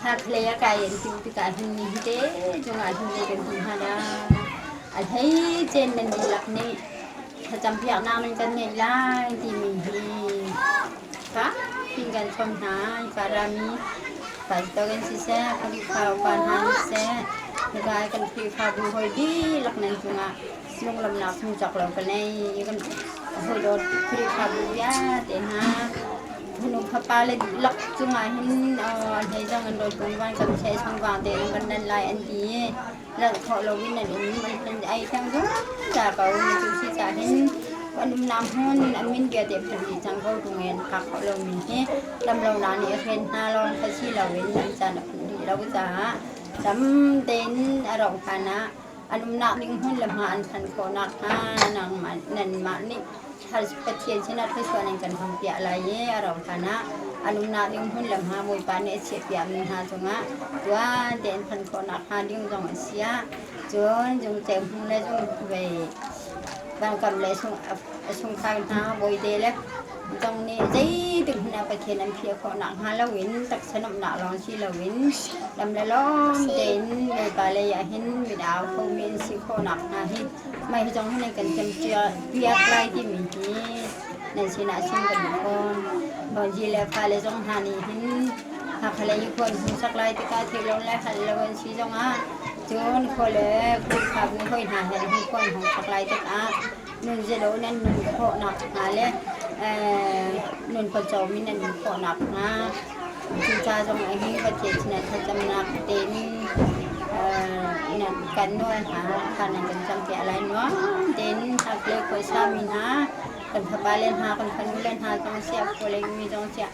Hnarkhlei a kai an timh tikah hin nihnite chungah hnulei kan tli hna lai. A hleicein nan dihlak nih thlacampiaknak nan kan ngeih lai timi hi fatin kan chawm hna i pa rami pastor kan siseh Khrihfa upa hna nih seh nika kan Khrihfabu hawi dihlak nan cungah Sullamnak hmu cak lo ka nei kan hawi dawt Khrihfabu vialte hna hunu fapa le lak cungah hin an hei zong an rawi pung van kan che sang vang te an kan nan lai an ti lalh thawh lo in an um an ai tang dum ta ko ni tu si ta hin an um nam hun an min bia te phun ni chang ko tu ngen ka kho lo min hi lam lo na ni hren hna lon ka si lo in an chan a phun ni lo cha tam den a rong phana an umnak ding hmun le hma an thanh khawh nakhnga nangmah, nanmah nih Pathian sinah thluachuah nan kan hong piah lai i a rauhhlan ah an umnak ding hmun le hma Bawipa nih a chiahpiakmi hna cungah tuan tein thanh khawh nakhnga ding zong a si ah cun zung hnu le zung vei vangkam le sung, sungkhai hna bawite le Midang nih zeitik hmanh ah Pathian an phih khawh nak hnga loin taksa nuamhnak lawng si loin lam le lawm tein Bawipa lei ah hin mit au khomi an si khawh nak hnga hi mah hi zong hi nan kan piak lai timi hi nan sinah chim kan duh fawn. Bawizi le fale zong hna nih hin Hakha lei i khuan hung sak lai tikah thil lo le hal lo an si zongah cun khua le khulkhap mi hoi hna he hin khuan hung sak lai tikah nunzilo in an nun khawhnak hna le nun pawcawm in an nun khawhnak hna cuca zong ah hin ka cecina thlacamnak tein kan nawl hna khan an kan campiah lai nuam tein chaklei khuasa mi hna kan fapale hna kan fanule hna zong siah khualeng mi zong siah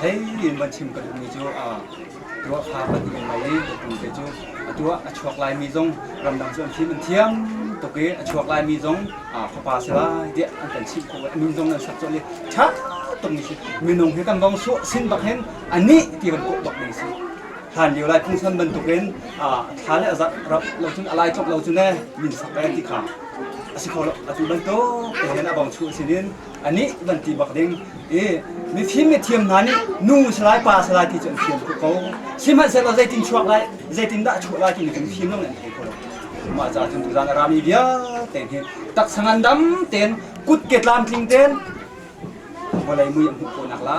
hleihnih in van chim ka duhmi cu tuah kha ka duh ngai i ka tu te cu a tuah a chuak laimi zong ramdang cu an fim an thiam tuk i a chuak laimi zong fapa si lai tiah an kan chimh khawh a nun zong nan sak colh i ṭha tuk ni si minung hi kan vong suah sin bak hin a nih ti kan kawh bak ni si hlan lio lai phungsan bantukin thla le a zarh rap lo cun a lai chop lo cu ne min sak e ti kha a si kho lo atu bantuk te hin a bong chu sinin anih kan ti bak ding i mifim mithiam hna nih nu salai pa salai ti cu an fian tuk ko sihmanhsehlaw zeitin chuak lai zeitin dah chuah lai ti kan fim lo an thei ko lo mah ca cun tuzang a rami vialte hi taksa ngandam ten kut ke tlamtling ten vawlei mui an hmuh ko nak la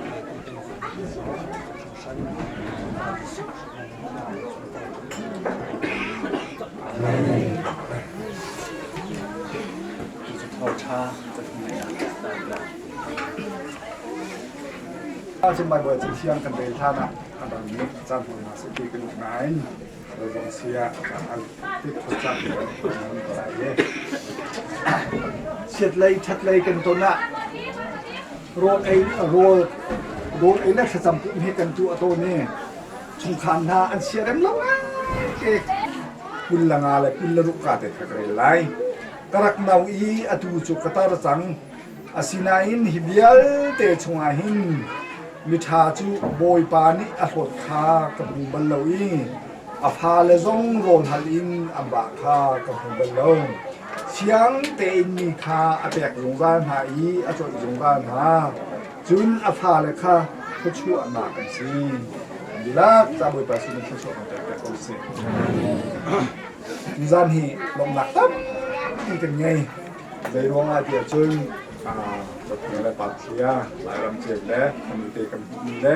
Ah cun mai buai cin siang kan rel than ah kan ram ni chan hon ma se ti kan nain zong sia al tik khocak kan lai ye chiat lei that lei kan ton ah Rawl ei le thlacam puh hme kan tuah tawn i chungkhar hna an sia rem lo lai. Kul le nga le kul le ruka te ka rel lai. Ka rak no i atu cu ka tar cang. Asinain hi vialte chungah hin miṭha cu Bawipa nih a hlawt kha ka hmu bal lo i a fale zong rawl hal in an bah kha ka hmu bal lo. Fiang tein mi kha a pek zungzal hna i a tlawnh zungzal hna. Cun a fale kha thluachuahnak an si. Dihlak ca Bawipa sin in thluachuah kan pek pek ko sih. Tuzaan hi lawmhnak tampi kan ngei. Zei ruangah tiah cun aa dawtmi le patlia, Lairam cia le khamu te kan hmuhmi le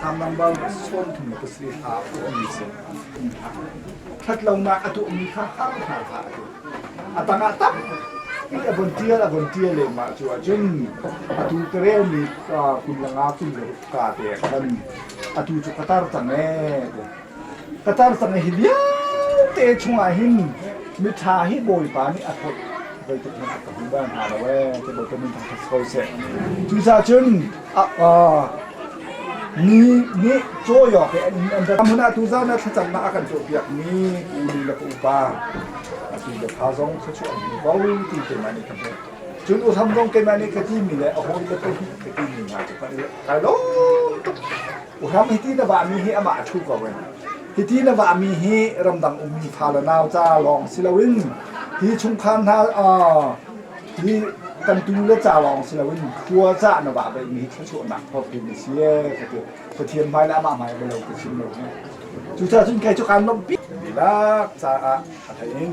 Sangbangbau sawmthum ka si hla a tuahmi cu ṭhatlonak a tuahmi hla hramhram hlah a ti. A tangah tak a von ṭial a von ṭial lehmah cu ahcun atu terel mi kum le nga kum le kaa te a kan atu cu ka tar cang ee. Ka cansang hi vialte chungah hin miṭha hi Bawipa nih a thawi zeitik hmanh ah ka hmu bal hna lo ee ti bantuk min thang khat ko seh. Cucaah cun ni nih cawi awk i an rat hmun ah tuzan na thlacamnak a kan cawnpiakmi u ni le ka upa atu biaṭha zong thluachuah an hmu ko ti keimah nih ka hmuh. Cun U Thang zong keimah nih ka timi le a hawi le pahnih ka timi hna cu kan i kai lo tuk. Hram hiti na vahmi hi amah a ṭhu ko in hiti na vahmi hi ramdang ummi fale nau ca lawng si loin hi chungkhar hna hi kan tu le ca lawng si loin khua ca na vah beihmi hi thluachuahnak thawkin a si ka ti Pathian hmai le amah hmai a lo ka chim lo ne cucaah cun kei cu kaan lawmh pi lak caah a thein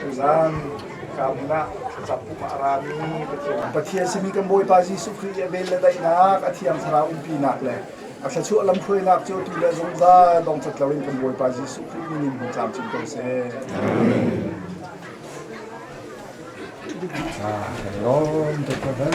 Tuzaan kan ah thlacam pumah a rami Pathian Pathian simi kan Bawipa Jesuh Khrih i a vel le daihnak a thiang thlarau umpinak le a thluachuah lamhruainak cu tu le zungzal dongcat loin kan Bawipa Jesuh Khrih minin hmu tlamcing ko seh. Ah, shalom to heaven.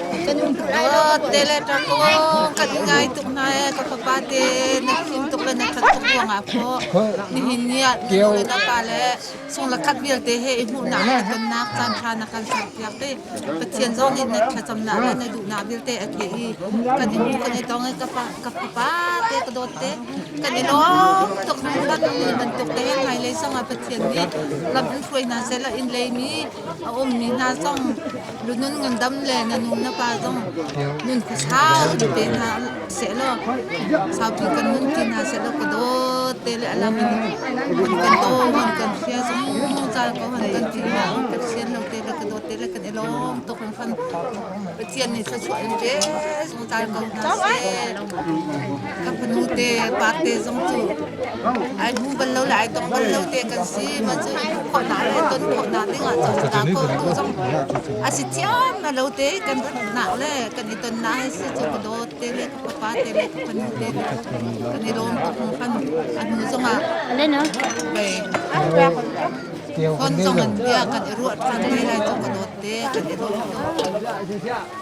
Kan ah te le ṭang aw kan ngai tuk hna ee ka fapa te na fim tuk le na ṭhat tuk ruangah phaw nihin ni ah nu le na pa le sung la khat vialte he i hmuhnak le tonnak caan ṭha na kan ser piak i Pathian zong in na thlacamnak le na duhnak vialte a theh i kan in kan i tong i ka fa ka fapa te ka dawt te kan i lawm tuk hman bantuk te ngai lei zong ah Pathian nih lam hruai hna sehla in leimi a ummi hna zong Lunun ngandam le na nu na pa zong nun khuasa ti te hna sehlaw sautu kan nun ti hna sehlaw ka dawt te le alam in an kan daw an kan fia zungzal ko an kan ti hna sian lo te le ka dawt te le kan i lawm tuk lang fan Pathian nih thluachuah in ve ka fanu te pate zong cu ai hmu bal lo le ai tong bal lo te kan si ma cu i hmuh khawh hna le ton khawh hna ding ah cun hna kawltu zong a si thiam na lo te kan phuhnak le kan i tonnak he si cu ka dawt te le ka fapa te le ka fanu te kan i rawm tuk hnu fan a hnu zong ah bei kon zong an bia kan i ruah than ti lai cu ka dawt te kan i rawm tuk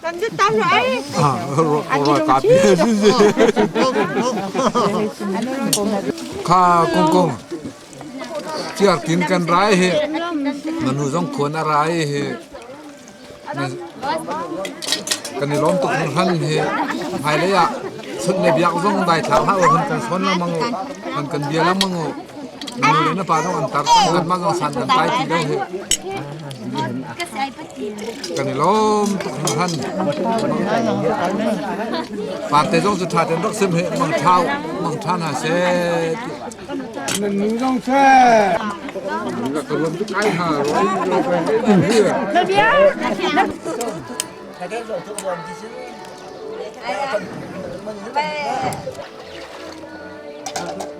Kan dit ta ra ai. An i lung thi. Kha kung kung tiar tin kan rai hi manu zong khon a rai hi kan i lom tuk hran hi ngai le ya sun ne biak zong dai thar ha hun kan son la mango kan kan bia la mango manu le na pa dong an tar san ma zong san kan pai ti dau hi Kan i lawm tuk hna han. Parte zong cu ṭha tein rak sim hi mang ṭhau mang ṭha hna seh. Nan nu zong seh. Nak ka ruam tu kai hna roi girlfriend in here.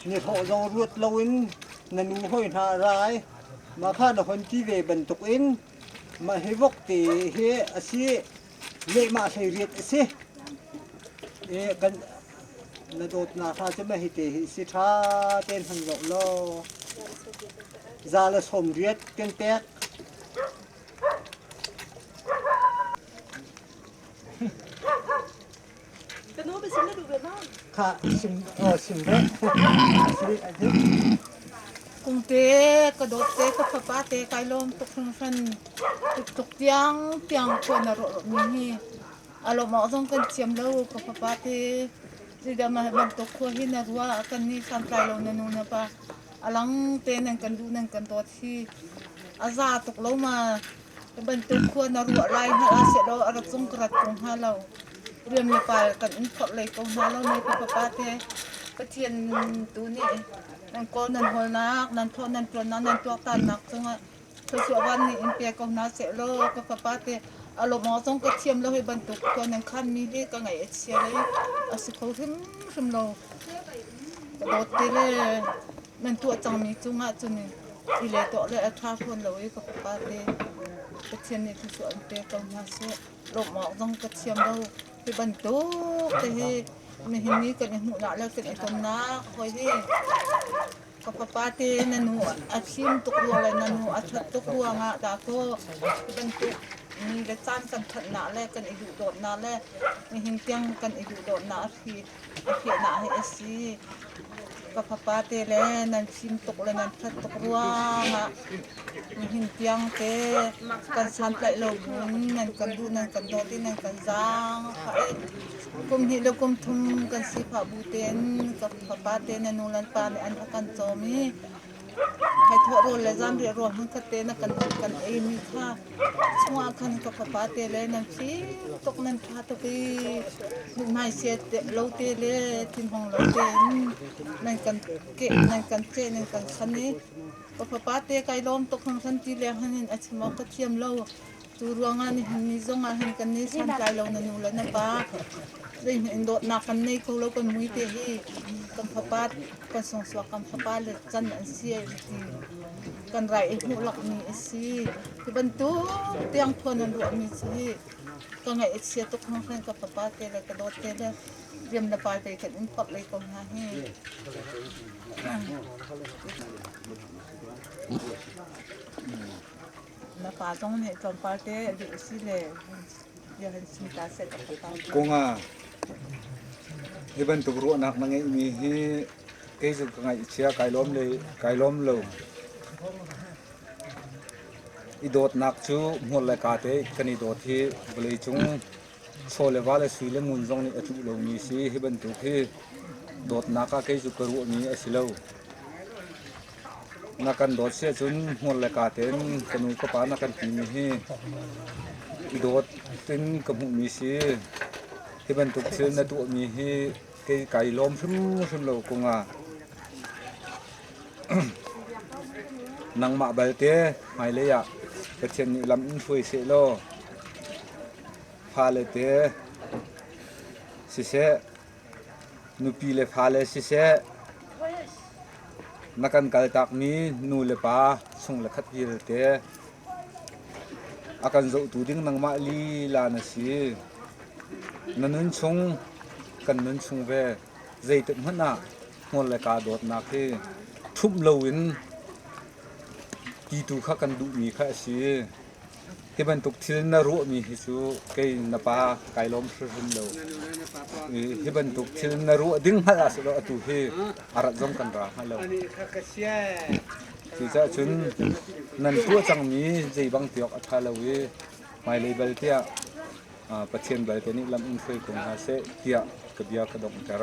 Snihlawh zong ruat loin na nu hoi hna rai. Mah kha na hon ti ve bantukin mah hi vok te hi a si lehmah hlei riat a si. E, kan na dawtnak ha cu mah hi te hi si ṭha tein han zoh law za le sawm riat kan pek. Kha sim sim ve. Kumte ka dotte ka fapa te kai lom tuk hran tuk tiang tiang tuan a ro mi hi alom ah zong kan siam lo ka fapa te sidam bantuk khua hi na rua kan ni sam tlai lo na nu na pa alang te nan kan lu nan kan dawt hi a za tuk lo ma Hi bantuk khua na ruah lai hmanh ah sehlaw a rak zung ka rat tung hna lo. Riam le pal kan um phorh lei ko hna lo ne, Pipa pa te. Pathian tu nih nan kawl nan hawlnak, nan thaw nan tuannak, nan tuaktannak cungah thluachuah van nih in pe ko hna seh law ka fapa te a lawmawng zong ka thiam lo hi bantuk khua nan khanmi hi ka ngaih a chia lei a si kho hrimhrim lo. Ka dawt ti le nan tuah cangmi cungah cun i le tuah le a ṭha fawn lo i ka fapa te Pathian nih thlusuah an pek ko hna seh lawmh awk zong ka thiam lo hi bantuk te hi nihin ni kan i hmuhnak le kan i tonnak hoi hi ka fapa te na nu a thim tuk ruang le na nu a ṭhat tuk ruangah dahkaw hi bantuk ni le caan kan thanhnak le kan i duhdawtnak le nihin tiang kan i duhdawtnak a thi ka fehnak hi a si. Ka fapa te le nan fim tuk le nan that tuk ruangah nihin tiang te kan santlaih lo kun nan kan duh nan kan dawt i nan kan zaang phah i kum hnih le kum thum kan sifah bu tein ka fapa te le nu le pa nih an kan cawm i Hnaithuah rawl le zanriah rawl hmunkhat te na kan kan eimi kha chungah khan ka fapa te le nan thli tuk nan ṭha tuk i mithmaisie lo te le thinhung lo tein nan kan keh nan kan ceh nan kan khan i ka fapa te kai lawm tuk hung san ti leng han in a chim awk ka thiam lo. Cu ruangah nihin ni zong ah hin kan ni santlai lo na nu le na pa zeihmanh dawtnak kan nei kho lo kan muite hi kan fapa kan sawngsuak kan fapa le can an si ai ti kan rai ei hmuh lakmi a si cu bantuk tiang phuan an ruahmi hi ka ngaih a chia tuk hang hang ka fapa te le ka dawt te le riam na pai pe kan in pap lei ko hna hi Na pa zong nih tlawmpal te rih usile bia han chim ta seh ka pa. Konga, hi bantuk ruahnak na ngeihmi hi kei zun ka ngaih i chia kai lawm le kai lawm lo. I dawtnak cu hmur le ka te kan i dawt hi vawlei cung chaw le va le sui le ngun zong nih a tluh lomi si hi bantuk hi dawtnak ah kei cu ka ruahmi a si lo. na kan dawt si ahcun hmur le ka tein ka nu ka pa na kan timi hi dawt in ka hmuhmi si hi bantuk thil na tuahmi hi kei kai lawm hrimhrim lo kung ah nangmah balte hmailei ah Pathian nih lam in hruai seh law fale te siseh Nupi le fale siseh, na kan kaltakmi nu le pa chung le khat vialte a kan zohtu ding nangmah lila na si. Na nun chung, kan nun chung ve zeitik hmanh ah hmur le kaa dawtnak hi ṭhumh loin ti tu kha kan duhmi kha a si. Hi bantuk thil na ruahmi hi cu kei na pa kai lawm hrimhrim lo. Hi bantuk thil na ruah ding hngalh ah sulaw atu hi a rat zong kan ra hngal lo. Cucaah cun nan tuah cangmi zei bang tiawk a ṭha lo i hmailei bal tiah Pathian balte nih lam in hruai ko hna seh tiah ka bia ka donghter.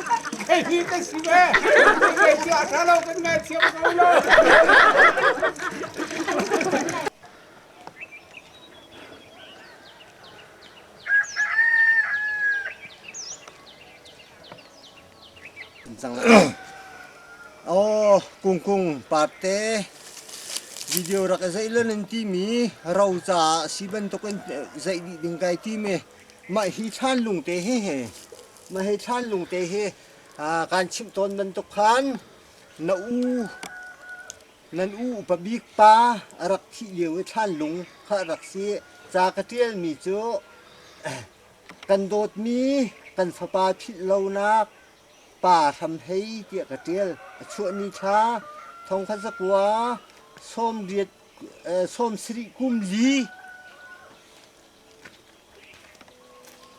Hihi ka si ve. Ka sia ṭha lo kan ngaithiam ko lo. Oh, kungkung parte video rak zei lon an ti mi ro ca si bantuk in zei dih ding kai ti me mah hi chan lung te he he Mah hi thlan lung te hi kan chimh tawn bantuk khan na u nan u upa bik pa a rak thih lio i thlan lung kha a rak si ca ka ṭialmi cu kan dawtmi kan fapa philh lonak pa hram hei tiah ka ṭial a chuah ni thla thongkha zakua sawm riat sawm sarih kum li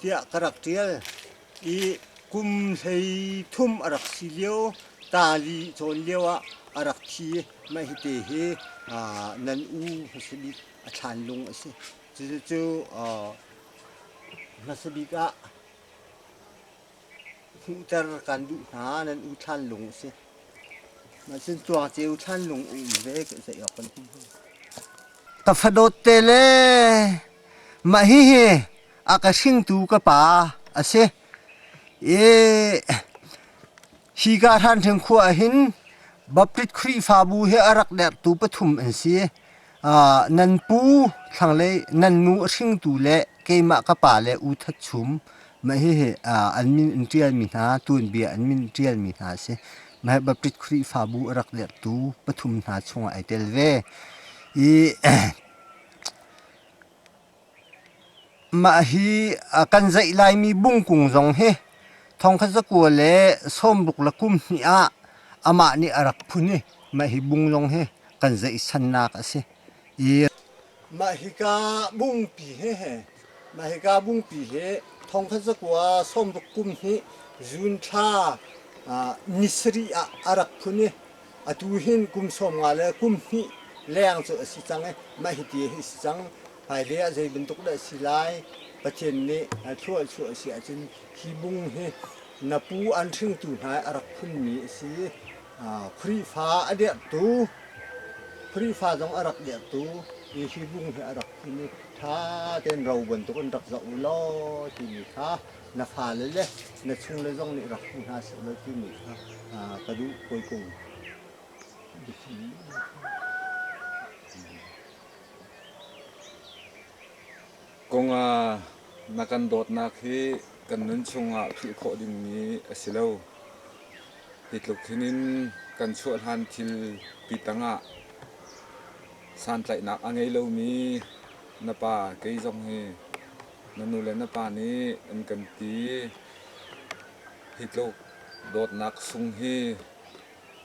tiah ka rak ṭial i kum hlei thum a rak si lio tali cawn lio ah a rak thi. Mah hite hi nan u hmasa bik a thlan lung a si. Cucu hmasa bik ah Hmuhter kan duh hna, nan U Thlan Lung a si. Cun Cuangceu Thlan Lung um ve zei awk kan him hna. Ka fadawt te le mah hihi a ka hringtu ka pa a si. E hi ka hran theng khua hin Baptist Khrihfabu he a rak dertu pathum an si. Nan pu, thlanglei nan nu a hringtu le keimah ka pa le U That Chum, mah hihi an min in ṭialmi hna, tuanbia an min ṭialmi hna a si. Mah hi Baptist Khrihfabu a rak lettu pathum hna chungah ai tel ve. I Mah hi kan zaih laimi bungkung zong hi thongkhat zakua le sawmbuk le kum hnih ah amah nih a rak phun i mah hi bung zong hi kan zaihsannak a si. Mah hika bungpi hehe mah hika bungpi hi thongkhat zakua sawmbuk kum hnih zun thla ni sarih ah a rak phun i Atu hin kum sawm nga le kum hnih leng cu a si cang i mah hiti hi a si cang, hmailei ah zei bantuk dah a si lai, Pathian nih thluahchuah a si ahcun hi bung hi na pu an hringtu hna i a rak phunmi a si i Khrihfa a dirhtu Khrihfa zong a rak dirhtu i hi bung hi a rak phun i ṭha tein ro bantuk in rak zoh u law timi kha na fale le na chungle zong nih rak hmu hna seh law timi kha ka duh poikung. Kong ah na kan dawtnak hi kan nun chungah philh khawh dingmi a si lo. Hi tluk hin in kan chuah hlan thil pi tangah santlaihnak a ngei lomi na pa kei zong hi Na nu le na pa nih an kan ti. Hi tluk dawtnak sung hi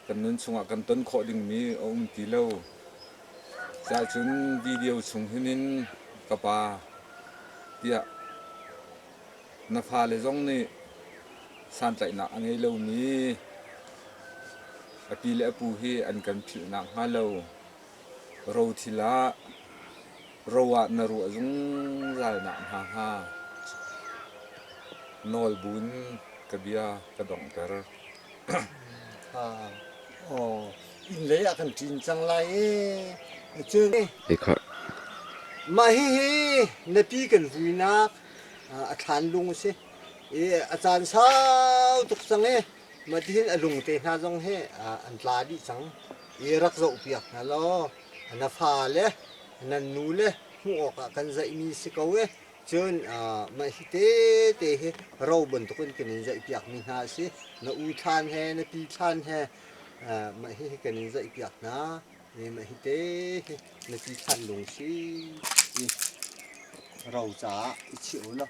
kan nun chungah kan ton khawh dingmi a um ti lo. Cuahcun video chung hin in ka pa tiah na fale zong nih santlaihnak a ngei lomi a pi le a pu hi an kan philh nakhnga lo rothil ah ro ah na ruah zungzal nakhnga hnga nawlbun ka bia ka donghter. oh, innlei ah kan ṭin cang lai ee. Cun, Ikhar. mah hihi napi kan hluinak a thlan lung a si i a caan sau tuk cang i matihin a lung te hna zong hi an tla dih cang i rak zoh piak hna law na fale nan nule hmuh awkah kan zaihmi si ko e cun mah hi tete hi ro bantuk in kan in zaihpiakmi hna a si na u thlan he na pi thlan he mah hi kan in zaihpiak hna e mah hi te hi na pi thlan lung si ti ro caah i chih u law